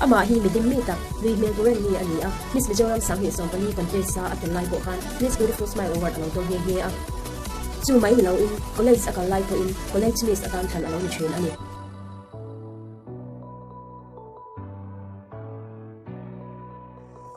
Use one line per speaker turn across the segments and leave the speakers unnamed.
Amah hi midim mi tak, nui hmel buren mi a ni a, Miss Mizoram Sang Hnih Sawm pali contest sa a tel lai pawh khan Miss Beautiful Smile Award a lo to nghe nghe a. Chu mai ni loin college a kal lai pawhin college miss atan thlan a lo ni thin a ni.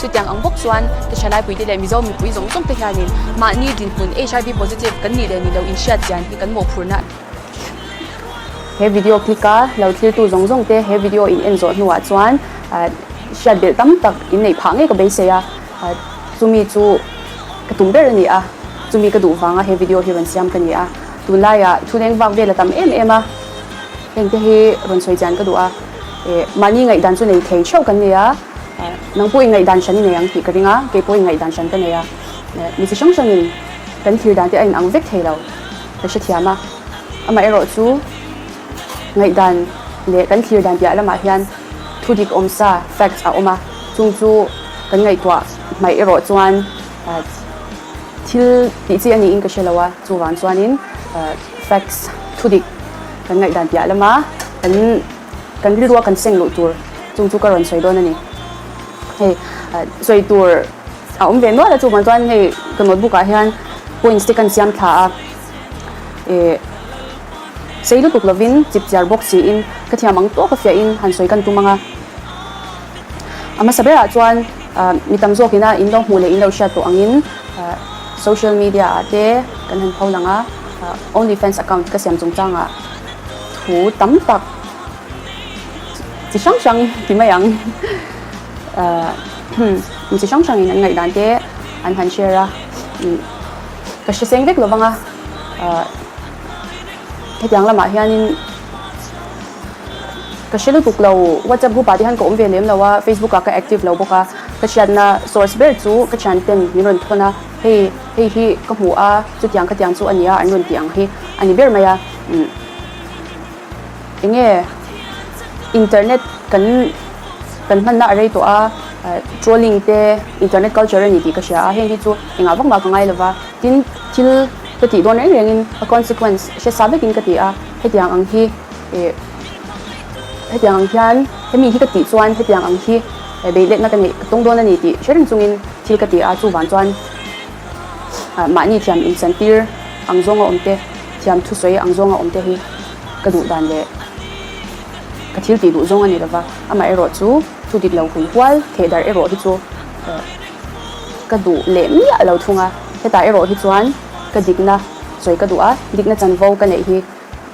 Chutiang ang bawk chuan Tasha Laipuite leh Mizo mipui zawng zawng te hianin mahni dinhmun HIV positive kan nih leh ni lo inhriat chian hi kan mawhphurhna a He video click a lo thiltu zawng zawng te he video in en zawh hnuah chuan hriat belh tam tak in neih phah ngei ka beisei a, chumi chu ka tum ber a ni a, chumi ka duh vanga he video hi rawn siam ka ni a, tunlai ah chhuneng vak vel a tam em em a, hengte hi rawn sawi chian ka duh a, eh mahni ngaihdan chu nei thei theuh kan nei a. Nang pawh i ngaihdan hran i nei ang tih ka ring a, kei pawh i ngaihdan hran ka nei a. Mi chi hrang hrangin kan thlir dan te a inang vek thei lo ka hrethiam a. Amaherawh chu ngaihdan leh kan thlir dan piah lamah hian thudik awm sa, facts, a awm a, chung chu kan ngaihtuah hmaih erawh chuan thil tih chi a niin ka hre lo a, chuvang chuanin facts, thudik, kan ngaihdan piah lama kan. Kan rilrua kan seng luh tur chung chu ka rawn sawi dawn a ni. Hei sawi tur a awm ve nual a chungah chuan hei ka notebook ah hian points te kan siam thla a, eh sei lutuk lovin chip chiar bawk siin ka thiam ang tawk a fiah in han sawi kan tum ang a. A hmasa berah chuan mi tam zawk in a in lo hmuh leh in lo hriat tawh angin social media ah te kan han pho lang a, only fans account ka siam chungchang a. thu tam tak chi hrang hrang ti mai ang mi chi hrang hrang in an ngaih dan te an han share a ka hriseng vek lo vang a hetiang lamah hian in ka hre lutuk lo whatsapp group ah te hian ka awm ve lem lo a facebook ah ka active lo bawk a ka hriatna source ber chu ka thian ten min rawn thawn a hei hei hi ka hmu a chutiang khatiang chu a ni a an rawn tih ang hi a ni ber mai a. enge internet kan kan hmanna a rei tawh a trolling te internet culture a ni tih ka hria a heng hi chu engah vak mah ka ngai lova tin thil ka tih dawn reng reng in a consequence hresa vek in ka ti a hetiang ang hi eh hetiang ang hian hemi hi ka tih chuan hetiang ang hi beiletna ka neih ka tawng dawn a ni tih hrereng chung in thil ka ti a chu vang chuan mahni thiam in san tir ang zawng a awm te. Thiam thusawi ang zawnga awmte hi ka duh dan leh ka thil tih duh zawng a ni lova, amah erawh chu thu dik lo hun hual theh darh erawh hi chu ka duh leh miah lo thung a, hetah erawh hi chuan ka dikna sawi ka duh a, dikna chanvo ka neih hi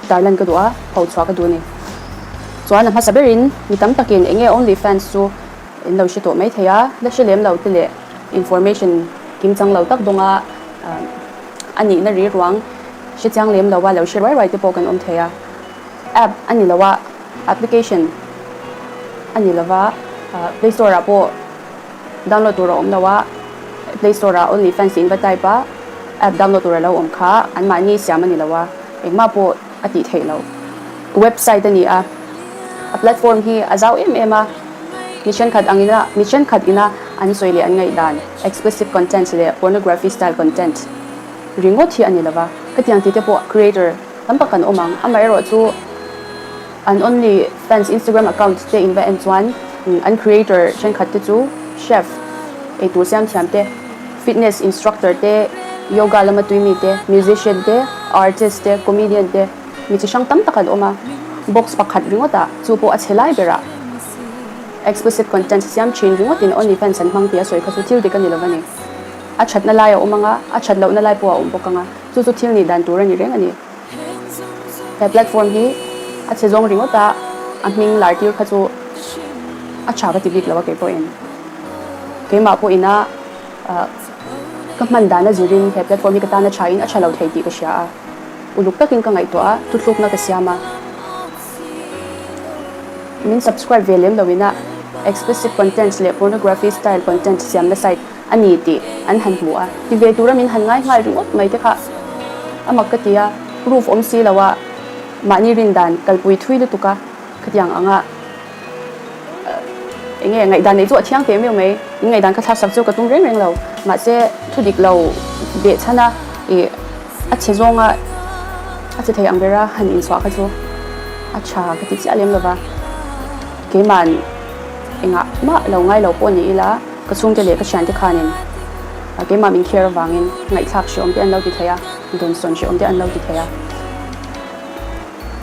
tarlan ka duh a, pho chhuah ka duh a ni. Chuan a hmasa berin mi tam takin enge only fans chu in lo hre tawh mai thei a, la hre lem lo te leh information kim chang lo tak dawnga. a nihna rilruang hriatchiang lem loa lo hre ruai ruai te pawh kan awm thei a, app a ni lo a, application a ni lova, play store ah pawh download tur a awm lo a, play store ah only fans inva type a app download tur a lo awm kha, anmahni siam a ni lo a, engmah pawh. a tih theih loh website a ni a, a platform hi a zau em em a, mi thenkhat ang ina mi thenkhat ina an sawi leh an ngaih dan explicit content leh pornography style content ringawt hi a ni lova, hetiang tite pawh creator tam tak kan awm ang amaherawh chu an only fans Instagram account te in va en chuan an creator thenkhat te chu chef eitur siam thiam te. Fitness instructor te, yoga lama tui mi te, musician te, artist te, comedian te, mi chi hrang tam tak an awm a, box pakhat ringawt ah, chu pawh a chhe lai ber ah explicit contents a siam thin ringawt in only fans an hmang tih a sawi kha chu thil dik a ni lo va ni. A that na lai a awm ang a, a that loh na lai pawh a awm bawk ang a, chu chu thil nih dan tur a ni reng a ni. He platform hi a chhe zawng ringawt a, a hming Lartir kha chu a tha ka ti bik lo a keipawhin. Keimah pawhin a ka hman dan a zirin he platform hi ka tan a thain a tha lo thei tih ka hria a, uluk takin ka ngaihtuah a, tluthlukna ka siam a. Min subscribe ve lem loin a, Expressive Contents leh Pornography Style Content siamna site. a ni tih an han hmu a, ti ve tura min han ngai nghal ringawt mai te kha a mak ka ti a, roof awm si lo a mahni rindan kalpui thui lutuk a ka tiang ang a, eng nge ngaihdan neih chu a thiang teh meuh mai, in ngaihdan ka thlak sak chu ka tum reng reng lo, mahse thu dik lo beh chhan a i a che zawng a a che thei ang ber a han in chhuah kha chu a tha ka ti chiah lem lo va, keima'n engah mah lo ngai lo pawh ni ila. Ka chhungte leh ka thiante khanin keimah min kher avangin ngaihthlak hre awmte an lo ti thei a, dawnsawn hre awmte an lo ti thei a.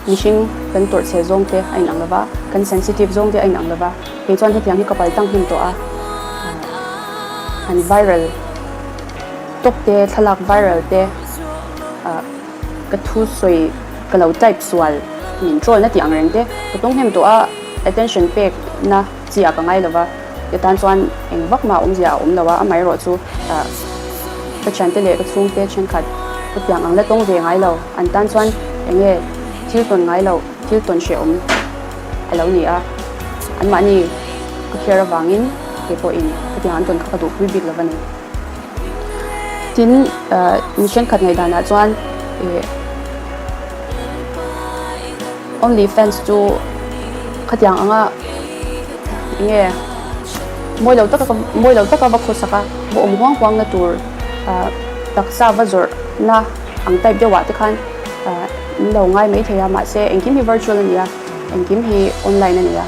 Mihring kan tawrh chhe zawngte a inang lo va, kan sensitive zawngte a inang lo va. Keichuan hetiang hi ka pal tang hnem tawh a, an viral tawkte, thlalak viral te ah ka thu sawi ka lo type sual min trawlna tih angrengte ka tawng hnem tawh a, attention pekna. Chiah ka ngai lova, hetan chuan eng vak mah awmzia a awm lo a, amaherawh chu ka thiante leh ka chhungte thenkhat ka piang ang la tawng ve ngai lo, an tan chuan enge thil tawn ngai loh, thil tawn hreh awm a lo ni a, anmahni ka kher avangin keipawhin hetiang an tawn kha ka duh pui bik lova ni. Tin, mi thenkhat ngaih danah chuan. Only fans chu khatiang anga enge mawi lo taka mawi lo taka va khaw sak a va awm huang huang na tur taksa va zawrh na ang type deuh ah te khan in lo ngai mai thei a mahse engkim hi virtual a nia engkim hi online a nia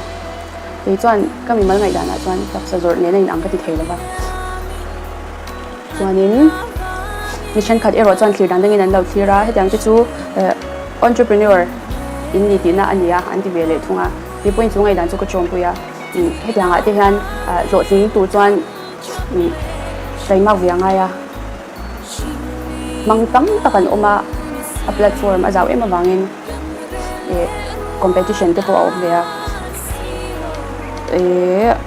kei chuan ka mimal ngaihdan ah chuan taksa zawrh nen a in ang ka ti thei lo va. Chuanin mi thenkhat erawh chuan thlir dang dangin an lo thlir a, hetiang te chu entrepreneur in ni tihna a nia an ti ve leh thung a. He point chu ngaihdan chu ka ṭawmpui a. Hetiang ah te hian hlawhtling tur chuan taimak ve a ngai a, hmang tam tak an awm a, a platform a zau em avangin competition te pawh a awm ve a.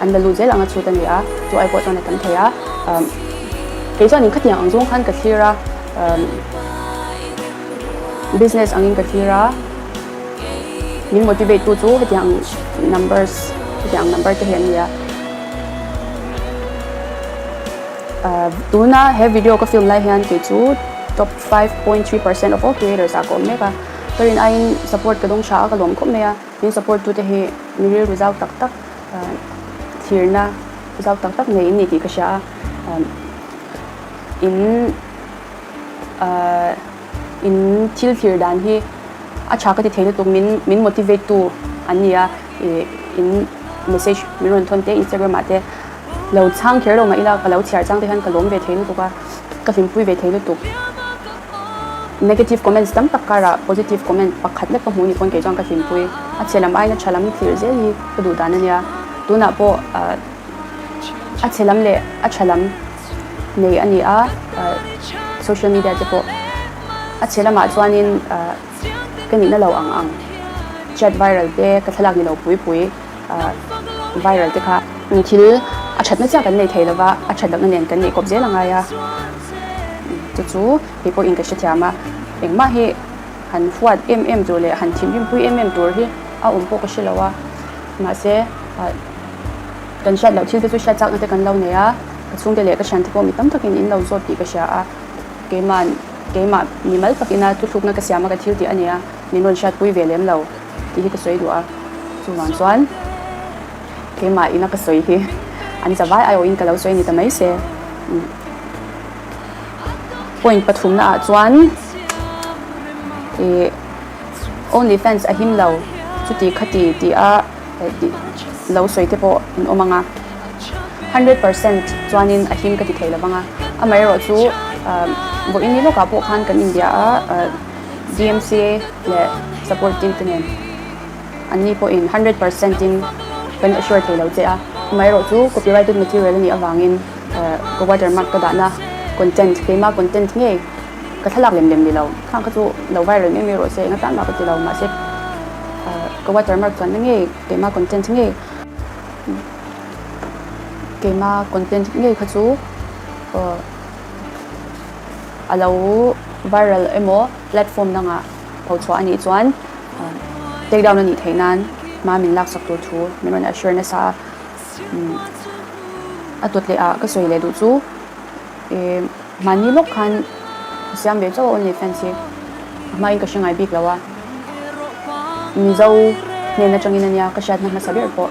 An la luh zel anga chhut a ni a, chu ai pawh chuan a tam thei a. Umm kei chuan in khatniang ang zawng khan ka thlir a, umm business angin ka thlir a, min motivate tu chu hetiang ang numbers hetiang ang number te hi an ni a. Umm tuna he video ka film lai hian kei chu top five point three percent of all creators ah ka awm mek a, turin aiin support ka dawng tha a, ka lawm khawp mai a. Min support tute hi mi rilru zau tak tak thirna zau tak tak ngei ni tih ka hria a. In in thil thlir dan hi a tha ka ti thei lutuk min min motivate tu an ni a. In message min rawn thawn te Instagram ah te lo chhang kher lo mah ila ka lo chhiar chang te hian ka lawm ve thei lutuk a, ka hlimpui ve thei lutuk. Negative comments tam tak karah positive comment pakhat vek ka hmuh ni pawn kei chuan ka hlimpui. A chhe lam aina tha lam thlir zel hi ka duh dan a nia. Tunah pawh a chhe lam leh a tha lam nei a ni a social media te pawh. A chhe lamah chuanin ka nihna lo ang ang chat viral te ka thlalak ni lo pui pui. viral te kha thil a thatna chiah kan nei thei lova a that lohna nen kan nei kawp zel a ngai a chu chu kei pawh in ka hrethiam a engmah hi han fuat em em tur leh han thim him pui em em tur hi a awm pawh ka hre lo a mahse kan hriat loh thil te chu hriat chakna te kan lo nei a ka chhungte leh ka thian te pawh mi tam takin in lo zawt tih ka hria a keima'n keimah mi mal takin a tluthlukna ka siam a ka thil tih a nia min rawn hriat pui ve lem lo. Tih hi ka sawi duh a, chuvang chuan keimah ina ka sawi hi an za vai aiawh in ka lo sawi a ni ta mai se. Point pathumna ah chuan ih only fans a him lo chuti khati tih a lo sawi te pawh an awm ang a, hundred percent chuanin a him ka ti thei lo vang a, amaherawhchu vawiin ni lawkah pawh khan kan inbia a. CMCA leh support team te nen an ni pawhin one hundred percent in kan assure thei lo che a, amaherawh chu copyrighted material a nih avangin ka watermark ka dahna content keimah content ngei ka thlalak lem lem ni lo khang kha chu lo viral mai mai rawh se enga tan mah ka ti lo mahse ka watermark chuan na ngei keimah content ngei keimah content ngei kha chu. A lo viral emaw platform dangah ho chhuah a nih chuan take down a nih theih nan hma min laksak tur thu min rawn assure nasa a. A tawt leh ah ka sawi leh duh chu mahni lawk khan ka siam ve chauh a only fans hi a hma in ka hre ngai bik lo a Mizo hnen atangin a nia ka hriatna hmasa ber pawh.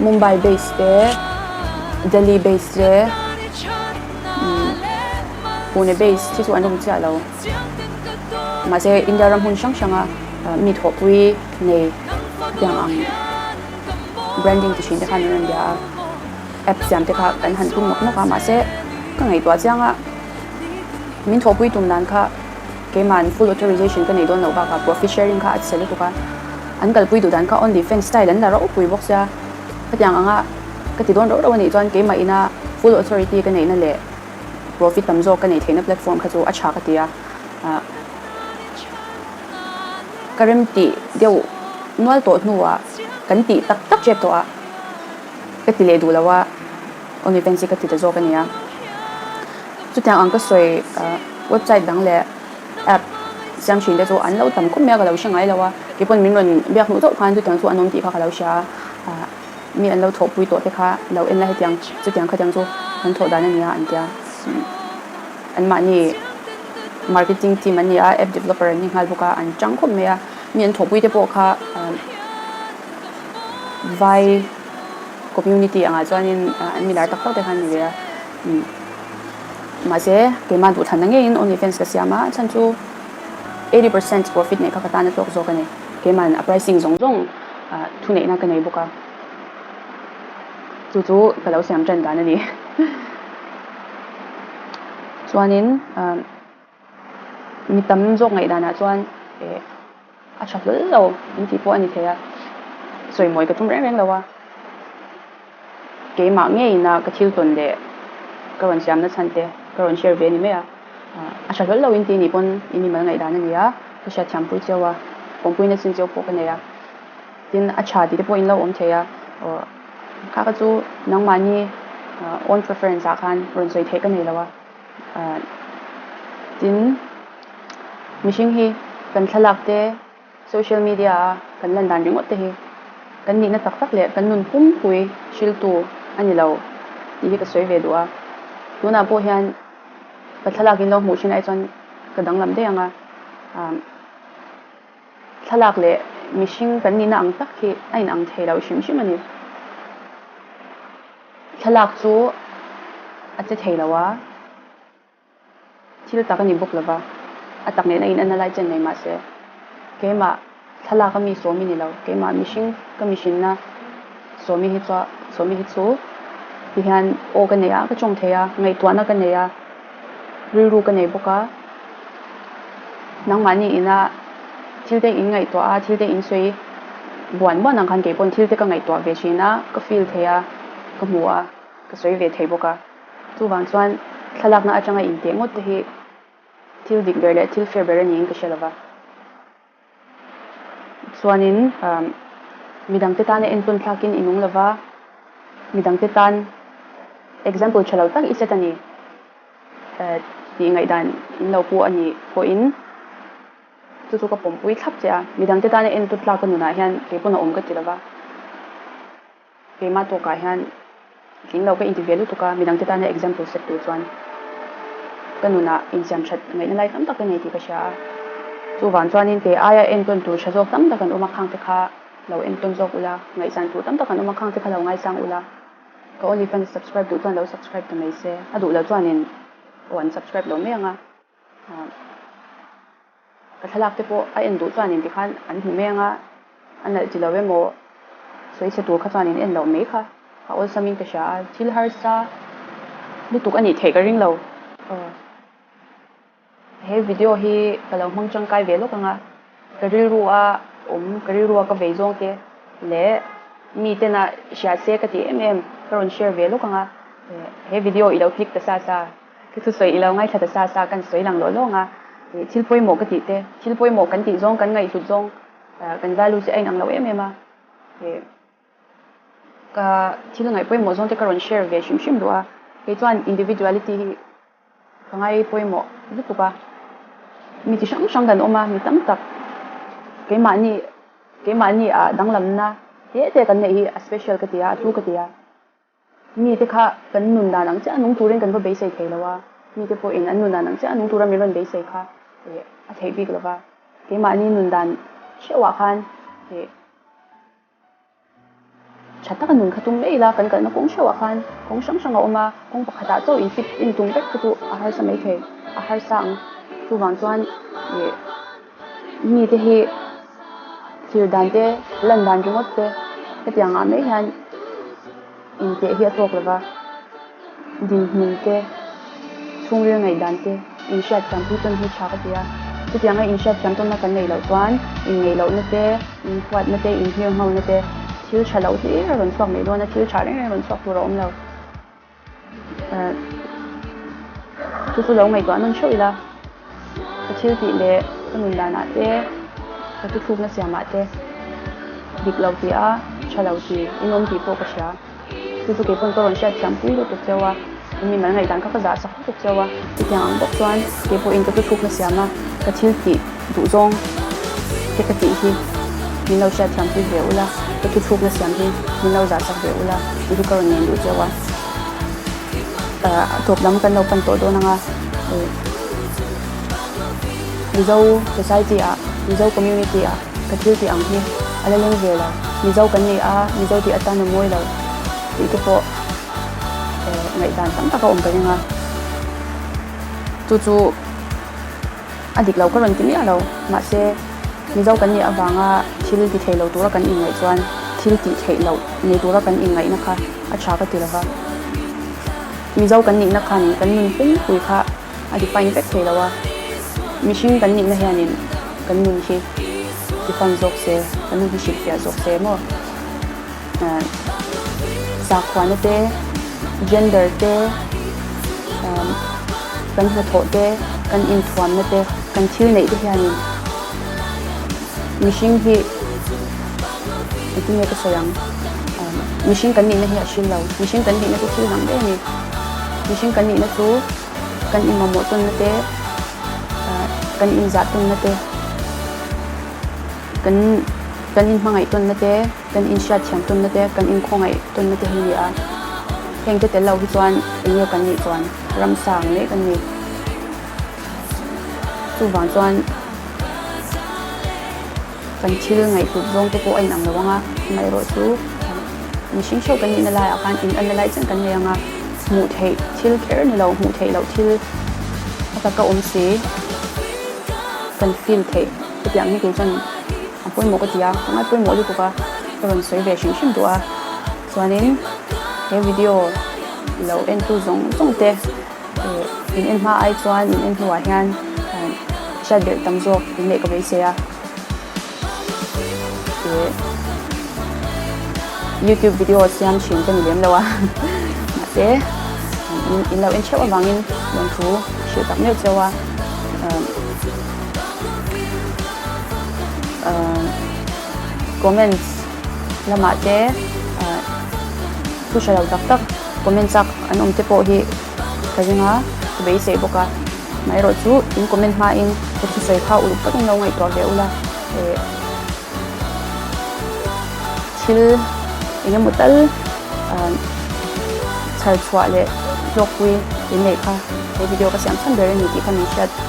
Mumbai base te Delhi base te Pune base te chu an awm chiah lo mahse India ram hun hrang hrang a mi thawhpui nei tiang ang branding chi hrin te khan an rawn bia a app siam te kha kan han tum nawk nawk a mahse ka ngaihtuah chiang a min thawhpui tum dan kha Keimah an full authorization ka neih dawn loh bakah profit sharing kha a chhe lutuk a, an kalpui duhdan kha only fans style an la rauh pui bawk sia. Khatiang anga ka ti dawn rauh rauh a nih chuan keimah ina full authority ka neihna leh profit tam zawk ka neih theihna platform kha chu a tha ka ti a. Ahh ka remtih deuh nual tawh hnuah kan tih tak tak chep tawh a ka ti leh duh lo a. Aw ni Pansy ka ti ta zawk a nia. Chutiang ang ka sawi a, website dang leh app siam thin te chu an lo tam khawp mai a ka lo hre ngai lo a, kei pawn min rawn biak hnu deuh khan chutiang chu an awm tih kha ka lo hria a, mi an lo thawh pui tawh te kha lo en la hetiang chutiang khatiang chu kan thawh dan a nia an tia. An mahni marketing team an ni a, app developer an ni nghal bawk a, an chang khawp mai a, mi an thawh pui te pawh kha vai Community angah chuanin an milar tak tak te khan a ni ve a, mahse keimah duhthlan na ngeiin Only Fans ka siam a, a chhan chu eighty percent profit neih kha ka tan a tlawk zawk a ni, keimahin a pricing zawng zawng thuneihna ka nei bawk a, chu chu ka lo siam tan dan a ni. Chuanin. mi tam zawk ngaih danah chuan eh a tha hlawl lo an tih pawh a ni thei a sawimawi ka tum reng reng lo a keimah ngeiin a ka thil tawn leh ka rawn siamna chhan te ka rawn share ve a ni mai a a tha hlawl lo in tih ni pawn i mimal ngaih dan a ni a ka hria thiam pui cheu a kawngpui na chin cheu pawh ka nei a tin a tha tih te pawh in lo awm thei a aw kha kha chu nangmahni own preference ah khan rawn sawi theih ka nei lo a Ahh tin mihring hi kan thlalak te social media a kan lan dan ringawt te hi kan nihna tak tak leh kan nun pumpui hriltu a ni lo tih hi ka sawi ve duh a. Tunah pawh hian ka thlalak in lo hmuh thin ai chuan ka danglam daih ang a. Ahh thlalak leh mihring kan nihna ang tak hi a inang thei lo hrim hrim a ni. Thlalak chu a che thei lo a, thil tak a ni bawk lo va, a tak nena in a na lai chen mai mah se, keimah thlalak a mi Sawmi ni lo, keimah mihring ka mihrinna Sawmi hi chuan, Sawmi hi chu tihian aw ka nei a, ka tawng thei a, ngaihtuahna ka nei a. Rilru ka nei bawk a, nangmahni ina thil te in ngaihtuah a, thil te in sawi buan buan ang khan kei pawhin thil te ka ngaihtuah ve thin a, ka feel thei a, ka hmu a, ka sawi ve thei bawk a. Chuvang chuan thlalakna atanga inteh ngawt te hi thil dik ber leh thil fair ber a niin ka hria lo va. chuanin midangte tan a enpawn thlakin i nung lova, midangte tan example tha lo tak i set a ni tih ngaihdan in lo pu a nih pawhin chu chu ka pawmpui thlap che a, midangte tan a enpawn tlaka nunah hian keipawn a awm ka ti lova. Keimah tawkah hian tling lo ka inti ve lutuk a, midangte tana example sek tur chuan ka nuna insiam that ngaihna lai tam tak ka nei tih ka hria a. Chuvang chuanin ke aia entawn tur tha zawk tam tak kan awma khangte kha lo entawn zawk ula, ngaihsan tur tam tak kan awma khangte kha lo ngaisang ula, ka onlyfans subscribe duh chuan lo subscribe ta mai se, a duh loh chuanin aw an subscribe lo mai ang a. Ka thlalak te pawh a en duh chuan in tikhan an hmu meng a, a nalh chi lo emaw sawi chhe tur kha chuan in en loh mai kha ka awlsam in ka hria a, thil harsa lutuk a nih theih ka ring lo. He video hi ka lo hmang tangkai ve lawk anga. Ka rilru a awm, ka rilru a ka vei zawng te leh mi ten a hriat se ka ti em em, ka rawn share ve lawk ang a, he video ilo click ta sa sa, ka thu sawi ilo ngaithla ta sa sa kan sawi lang lawh lawng a, thil pawimawh ka tih te, thil pawimawh kan tih zawng kan ngaihhlut zawng kan values hi a inang lo em em a. Ka thil ngaih pawimawh zawngte ka rawn share ve hrim hrim luh a, kei chuan individuality hi ka ngai pawimawh lutuk a, mi chi hrang hrang kan awm a, mi tam tak keimahni keimahni ah danglamna te te kan neih hi a special ka ti a, a tu ka ti a, mite kha kan nun dan ang chiah a nung turin kan va beisei thei lo a, mite pawhin an nun dan ang chiah a nung tura min rawn beisei kha a theih bik lo va, keimahni nun dan hreuhah khan. Tha taka nun kha tum mai ila kan kalna kawng hreuhah khan kawng hrang hrang a awm a, kawng pakhatah chauh in fit in tum vek te chu a harsa mai thei, a harsa ang. Chuvang chuan ih mite hi thlir dan te, lan dan ringawt te hetiang ah mai hian, Inteh hi a tlawk lova, dinhmun te, chhungril ngaihdan te inhriat thiam pui tawn hi tha ka ti a. Chutiang a inhriat thiam tawnna kan neih loh chuan inngeih lohna te, inhuatna te, inhmir nghona te thil tha loh hlir a rawn chhuak neih dawn a, thil tha reng reng rawn chhuak tur a awm lo. Chu chu lo ngaihtuah nawn theuh ila. Ka thil tih leh ka nun danah te, ka ti thlukna siamah te dik lo ti a, tha lo ti in awm tih pawh ka hria. Chu chu keipawn ka rawn hriat thiampui lutuk cio a, eng nge malngaih dan kha ka zahsak lutuk cio a, chutiang ang bawk chuan kei pawhin ka ti thlukna siam a, ka thil tih duh zawng te ka tih hi min lo hriat thiampui ve ula, ka ti thlukna siam hi min lo zahsak ve ula tih hi ka rawn nen duh cio a. Thawk lam kan lo pan tawh dawn anga Mizo society ah, Mizo community ah ka thil tih ang hi a la leng ve lo. Mizo kan ni a, Mizo tih atan a mawi lo tih te pawh ngaihdan tam tak a awm ta eng a. Chu chu. A dik lo ka rawn ti miah lo. Mahse, Mizo kan nih avanga thil ti theih lo tura kan inngaih chuan thil tih theih loh nei tura kan inngaihna kha a tha ka ti lo va. Mizo kan nihna khanin kan nun pungpui kha a define vek thei lo a. Mihring kan nihna hianin kan nun hi define zawk se, kan nun hi hrilhfiah zawk se emaw? sakhuana te, gender te, kan hnathawh te, kan inthuamna te, kan thil neih te hianin mihring hi engtin nge ka sawi ang mihring kan nihna hi a hrillo mihring kan nihna chu thil dang deuh a ni mihring kan nihna chu kan inmamawh tawnna te kan inzah tawnna te kan kan inhmangaih tawnna te Kan inhriat thiam tunna te, kan inkhawngaih tunna te hi nia. Heng te tel lo hi chuan eng nge kan nih chuan ramsa ang leh kan ni. Chuvang chuan kan thil ngaihtup zawng te pawh a inang lo ang a, amaherawh chu mihring hreu kan nihna laiah khan in alna lai chen kan nei ang a, hmuh theih thil kher ni lo, hmuh theih loh thil a taka awm si kan feel theih. Chutiang ang hi kei chuan a pawimawh ka ti a, ka ngai pawimawh lutuk a, ka rawn sawi ve hrim hrim duh a, chuanin he video lo entu zawng zawng te in en hma ai chuan in en hnuah hian hriat belh tam zawk in leh ka vei se a, youtube video siam thin ka ni lem lo a, mahse in lo en theuh avangin lawmthu hrilh tak meuh che a. comments lamah te thu hre lo tak tak comment chak an awm te pawh hi ka ring a ka beisei bawk a mah erawh chu in comment hma in ka thusawi kha uluk tak in lo ngaihtuah ve ula eh thil eng emaw tal chhar chhuah leh hlawkpui inneih kha he video ka siam chhan ber a ni tih kha min hriat.